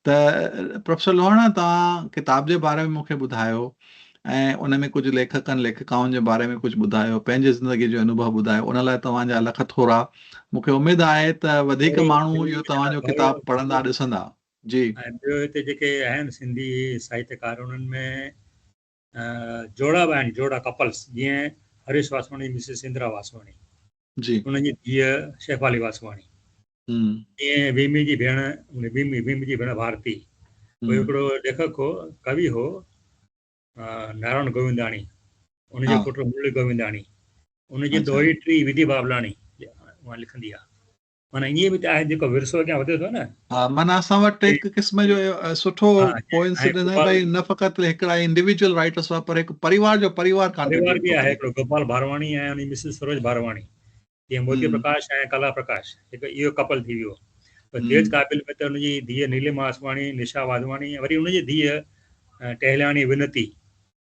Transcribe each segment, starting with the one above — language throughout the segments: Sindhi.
ته پروفيسر لوهاڻا توهان ڪتاب جي باري ۾ مون کي ٻڌايو ۽ ان ۾ ڪجهه ليکڪن ليکڪائن جي باري ۾ ڪجهه ٻڌايو پنهنجي زندگي جو انوڀو ٻڌايو ان لاء توهان جا لک ٿورا مون کي اميد آهي ته وڌيڪ ماڻهو اهو توهان جو ڪتاب پڙهندا ڏسندا جي ۽ ٻيو هتي جيڪي اهم سنڌي ساهتڪار انهن ۾ جوڙا به آهن جوڙا ڪپلس جيئن هريش واسواڻي مسز اندرا واسواڻي جي انهن جي ڌيء شيفالي واسواڻي ائين ويمي جي ڀيڻ ويمي ويمي جي ڀيڻ ڀارتي ڪو هڪڙو ليکڪ هو ڪوي هو نارائڻ گوونداڻي ان جو پٽ مرلي گوونداڻي ان جي دوهي ٽي وڌي بابلاڻي لکندي آهي معنيٰ ائين به ته آهي جيڪو ورثو اڳيان وڌي ٿو نه. ها معنيٰ اسان وٽ هڪ قسم جو سٺو ڪوئنسيڊنس آهي ته نه فقط هڪڙا انڊيويڊوئل رائيٽرس هئا پر هڪ پريوار جو پريوار ڪانٽريبيوٽ ڪيو آهي. هڪڙو گوپال ڀارواڻي ۽ انهي مسز سروج ڀارواڻي جيئن موتي پرڪاش ۽ ڪلا پرڪاش هڪ اهو ڪپل ٿي ويو پر تيج قابل ۾ ته ان جي ڌيء نيلما آسواڻي نشا واڌواڻي ۽ وري ان جي ڌيء Tahiliani Vanti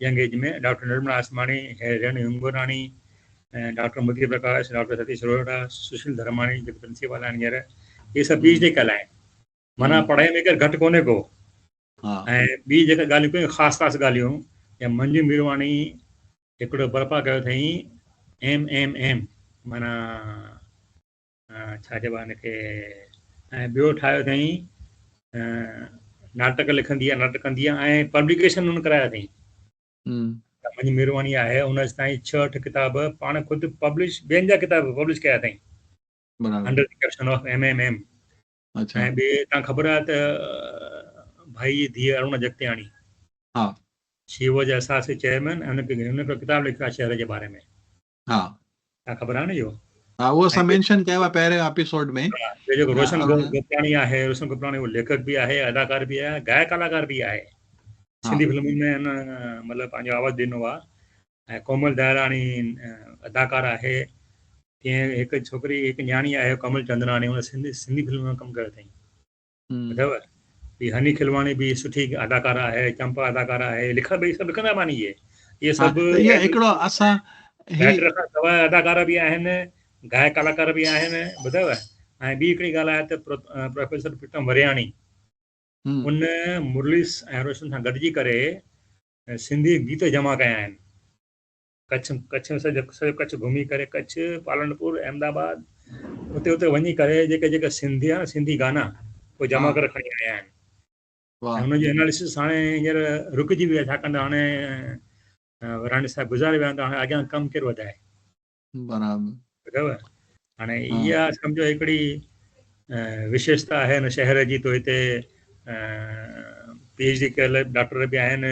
young age ۾ doctor Nirmala Asmani, Renu Hingorani, doctor Madhir Parkash, doctor Satish Roheera, Sushil Dharmani جيڪي پرنسيپال آهن هينئر اهي سڀ پي ايڇ ڊي ڪيل آهن. معنيٰ پڙهائي ۾ ڪير گهٽ ڪونهي ڪو. ۽ ٻي جيڪا ڳالهيون ڪيون خاص خاص ڳالهيون جيئن منجو ميرواڻي هڪڙو برپا ڪيو اٿئين ايم ايم ايم معنيٰ ڇا چئبو آهي ان کي ۽ ٻيو ٺاهيو اٿئي ناٽڪ لکندي آهي ناٽڪ ڪندي آهي ۽ پبليڪيشن ان ڪرايا اٿئي منهنجي مهرباني آهي ان تائين ڇهه اٺ ڪتاب پاڻ خود پبلش ٻين جا ڪتاب پبلش ڪيا اٿئي under the caption of M M M ۽ ٻي تان خبر آهي ته ڀائي جي ڌيء ارون جگتياڻي ها شي واز اساسي چيئرمين ان کي ان کي ڪتاب لکيو آهي شهر جي باري ۾ ها ها خبر آهي نه اهو. ها اهو اسان مينشن ڪيو آهي پهرين اپيسوڊ ۾ ها جيڪو روشن گوپراڻي آهي روشن گوپراڻي اهو ليکڪ به آهي اداڪار به آهي گائڪ اداڪار به آهي سنڌي فلمن ۾ هن مطلب پنهنجو آواز ڏنو آهي ۽ ڪومل دهراڻي اداڪار آهي ڪنهن هڪ ڇوڪري هڪ نياڻي آهي ڪومل چندراڻي هن سنڌي سنڌي فلم ۾ ڪم ڪيو اٿئي اٿيو هي هني کلواڻي به سٺي اداڪاره آهي چمپا اداڪاره آهي لکا ٻئي سڀ لکندا ماني اهي اهي سڀ اهي هڪڙو اسان ڊائريڪٽر کان سواء اداڪاره به آهن گائڪ ڪلاڪار به آهن ٻڌايو ۽ ٻي هڪڙي ڳالهه آهي ته پروفيسر پريتم ورياڻي ان مرليس ۽ روشن سان گڏجي ڪري سنڌي گيت جمع ڪيا آهن ڪڇ ڪڇ ۾ سڄو سڄو ڪڇ گهمي ڪري ڪڇ پالڻپور احمد آباد اتي اتي وڃي ڪري جيڪا جيڪا سنڌي آهي سنڌي گانا اهي جمع ڪري کڻي آيا آهن واه هن جو اناليسس هاڻي هينئر رڪجي ويو آهي ڇاڪاڻ ته هاڻي وراڻي صاحب گذاري ويا آهن ته هاڻي اڳيان ڪم ڪير وڌائي برابر ٻڌو هاڻي ها اها سمجھو هڪڙي وشيشتا آهي هن شهر جي تو هتي پي ايڇ ڊي ڪيل ڊاڪٽر به آهن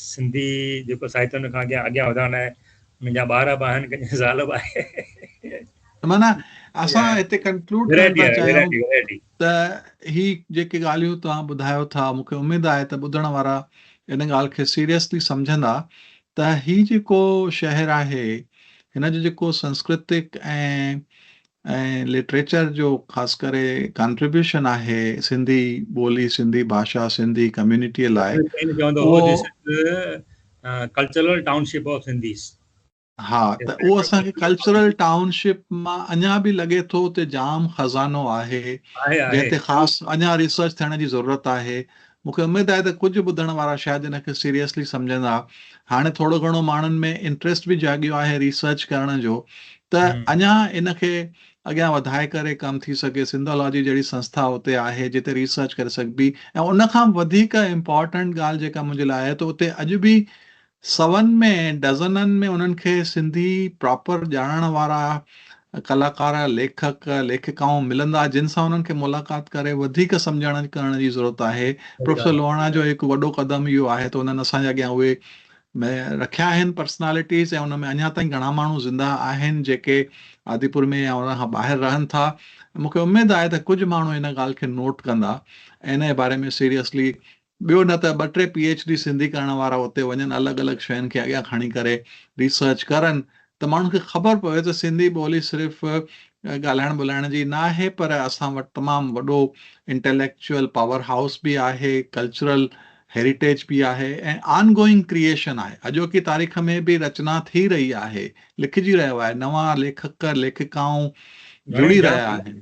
سنڌي جيڪو ساهتي ان کان اڳيان اڳيان وڌائڻ لاء منهنجا ٻار به آهن ڪنهن زال به آهي مانا اسان هتي ڪنڪلوڊ ڪرڻ ٿا چاهيون ته هي جيڪي ڳالهيون توهان ٻڌايو ٿا مون کي اميد آهي ته ٻڌڻ وارا ان ڳالهه کي سيريسلي سمجهندا ته هي جيڪو شهر آهي هن جو جيڪو سنسڪرتڪ ۽ ۽ لٽريچر جو خاص ڪري ڪانٽريبيوشن آهي سنڌي ٻولي سنڌي ڀاشا سنڌي ڪميونٽيء لاء cultural township of Sindhis ها ته اهو اسان کي ڪلچرل ٽائون شپ مان اڃا به لڳي ٿو ته جام خزانو آهي جنهن تي خاص اڃا ريسرچ ٿيڻ جي ضرورت آهي مون کي اميد آهي ته ڪجهه ٻڌڻ وارا شايد ان کي سيريئسلي سمجهندا. هاڻي ٿورو گهڻو ماڻهن ۾ انٽريسٽ به جاڳيو آهي ريسرچ ڪرڻ جو ته اڃا ان کي اڳيان وڌائي ڪري ڪم ٿي سگهي. سنڌالاجي جهڙي سنسٿا اتي آهي جتي ريسرچ ڪري سگهبي ۽ ان کان به وڌيڪ امپارٽنٽ ڳالهه جيڪا منهنجي لاء آهي ته اتي اڄ به سون ۾ ڊزنن ۾ انهن کي سنڌي پراپر ڄاڻڻ وارا ڪلاڪار، ليکڪ، ليکڪائون ملندا جن سان انهن کي ملاقات ڪري وڌيڪ سمجهڻ ڪرڻ جي ضرورت آهي. صحيح پروفيسر ڳالهه آهي. لوهاڻا جو هڪ وڏو قدم اهو آهي ته انهن اسان جي اڳيان اهي م رکيا آهن پرسنالٽيز ۽ ان ۾ اڃا تائين گهڻا ماڻهو زنده آهن جيڪي آديپور ۾ يا ان کان ٻاهر رهن ٿا ۽ مون کي اميد آهي ته ڪجهه ماڻهو ان ڳالهه کي نوٽ ڪندا ۽ انهي باري ۾ سيريسلي ٻيو نه ته ٻه ٽي پي ايڇ ڊي سنڌي ڪرڻ وارا اتي وڃن الڳ الڳ شين کي اڳيان کڻي ڪري ريسرچ ڪرن ته ماڻهن کي خبر پوي ته سنڌي ٻولي صرف ڳالهائڻ ٻولهائڻ جي نه آهي پر اسان وٽ تمام وڏو انٽيليڪچوئل پاور هائوس به آهي ڪلچرل هيريٽيج به آهي ۽ آن گوئنگ ڪريئيشن آهي اڄوڪي تاريخ ۾ به رچنا ٿي رهي آهي لکجي رهيو آهي نوان ليکڪ ليکڪائون جڙي رهيا آهن.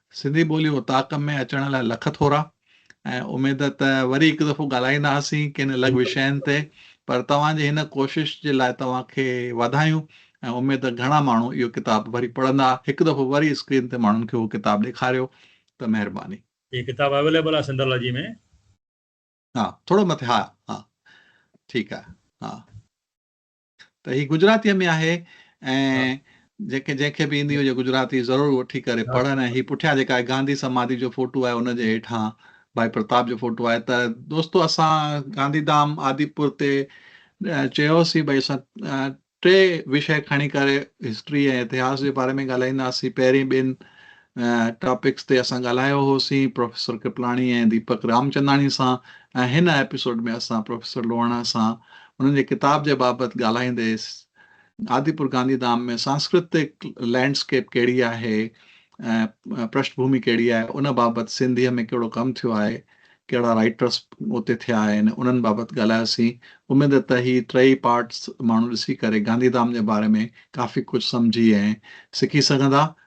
سنڌي ٻولي اوطاق ۾ اچڻ لاء لک ٿورا ۽ اميد ته وري هڪ دفعو ڳالهائينداسين ڪن الڳ وشين تي پر توهان جي هن ڪوشش جي لاء توهان کي واڌايون ۽ اميد ته گهڻا ماڻهو اهو ڪتاب وري پڙهندا هڪ دفعو وري اسڪرين تي ماڻهن کي اهو ڪتاب ڏيکاريو ته مهرباني. هي ڪتاب اويليبل آهي سندرلاجي ۾. ها ٿورو مٿي ها ها ٺيڪ آهي ها. ته هي گجراتيء ۾ آهي ۽ جيڪي جنهن کي به ايندي هجي گجراتي ضرور وٺي ڪري پڙهن ۽ هي پٺيان جيڪا گانڌي سماڌي جو فوٽو آهي ان جي هيٺان ڀائي پرتاب جو فوٽو آهي ته دوستو اسان گانڌي ڌام آديپور تي چيوسي ڀائی اسان ٽي وشي کڻي ڪري هسٽري ۽ اتهاس جي باري ۾ ڳالهائينداسين پهرين ٻن ٽاپڪس تي اسان ڳالهايو هوسين پروفيسر ڪرپلاڻي ۽ ديپڪ رامچنداڻي سان ۽ هن ايپيسوڊ ۾ اسان پروفيسر لوهاڻا سان انهن جي ڪتاب جي بابت ڳالهائيندي آديپور گانڌي ڌام ۾ سانسڪرتڪ لينڊ اسڪيپ ڪهڙي آهي ۽ پرشٽ ڀومي ڪهڙي آهي ان بابت سنڌيء ۾ ڪهڙو ڪم ٿيو آهي ڪهڙا رائٽرس اتي ٿيا آهن انهن بابت ڳالهايوسين اميد ته هي ٽئي پارٽس ماڻهو ڏسي ڪري گانڌي ڌام جي باري ۾ ڪافي ڪجهه سمجهي ۽ سکي سگهندا ۽